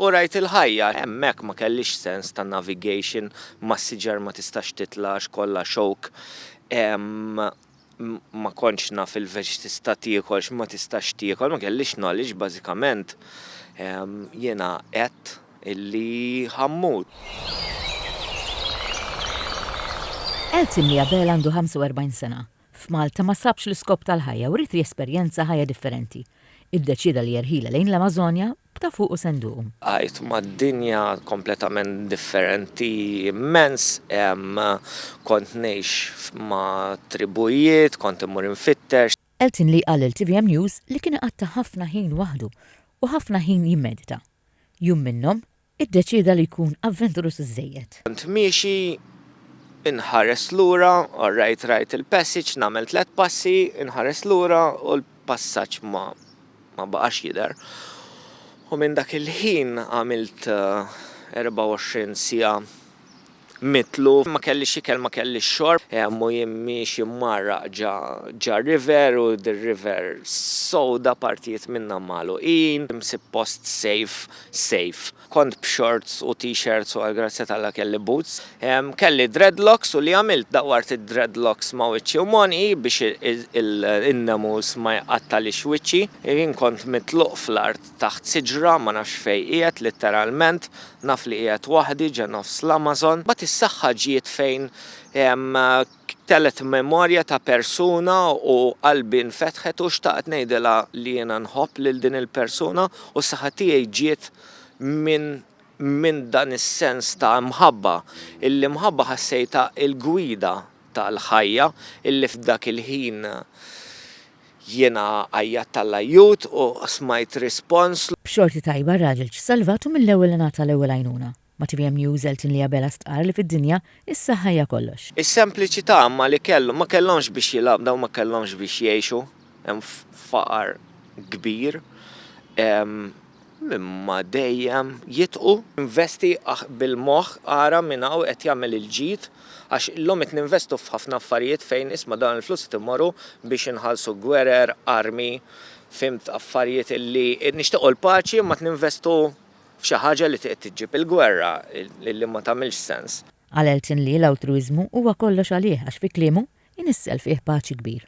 U rajt il-ħajja. Hemmhekk ma kellix sens ta' navigation, mas-siġar ma tistax titla' għax kollha xowk. Ma kontx naf il-veġ x'tista' tiekol, x'ma tistax tiekol, ma kellix knowledge bażikament. Jiena għedt illi ħa mmut. Elton Miabel għandu 45 sena. F'Malta ma sabx l-iskop tal-ħajja u ried jesperjenza ħajja differenti. Iddeċieda li jerħilha lejn l-Amażonja, b'ta' fuq u senduqu. Għidt ma' dinja kompletament differenti immens. Hemm kont ngħix ma' tribujiet, kont immur infittex. Eltinley qal lil tvm News li kien iqatta' ħafna ħin waħdu u ħafna ħin jimmedita. Jum minnhom, iddeċieda li jkun avventuruż iżżejjed. Kont miexi, inħares lura, orrajt rajt il-passage, nagħmel tliet passi, inħares lura u l-passaġġ ma ma baqax jidher. U minn dak il-ħin għamilt 24 siegħa mitluf, ma kellix ikel, ma kellix xorb, hemm u jien miexi mgħarraq ġa r-river u dir-river sowda partijiet minnha magħluqin, msib post safe, sejf. Kont b'shorts u t-shirts u għall-grazzja t'Alla kelli boots. Kelli dreadlocks u li għamilt dawwart id-dreadlocks ma' wiċċi u m'għonqi biex in-nemus ma jqattagħlix wiċċi. Jien kont mitluq fl-art. taħt siġra, ma nafx fejn qiegħed litteralment, naf li qiegħed waħdi ġe nofs l-Amazon. Mbagħad is-saħħa ġiet fejn telgħet memorja ta' persuna u qalbi nfetħet u xtaqt ngħidilha li jiena nħobb lil din il-persuna u s-saħħa tiegħi ġiet minn minn dan is-sens ta' mħabba, il-imħabba ħassejtha il-gwida tal-ħajja illi f'dak il-ħin Jiena għajjatt għall-ajjut u smajt rispons. B'xorti tajba r-raġel ġie salvat u mill-ewwel ingħata l-ewwel għajnuna. Ma' tvm News Elton Lee Abela stqarr li fid-dinja, is-saħħa hija kollox. Is-sempliċità imma li kellu, ma kellhomx biex jilgħabdaw, ma kellhomx biex jgħixu, hemm faqar kbir. Imma dejjem jitqu. Investi bil-moħħ ara min hawn qed jagħmel il-ġid għax illum qed ninvestu f'ħafna affarijiet fejn isma' dawn il-flus qed imorru biex inħallsu gwerer, armi, fhimt affarijiet li nixtiequ l-paċi imma qed ninvestu f'xi ħaġa li qed iġġib il-gwerra li ma tagħmilx sens. Għal Elton Lee l-altruwiżmu huwa kollox għalih għax fi kliemu, inissel fih paċi kbir.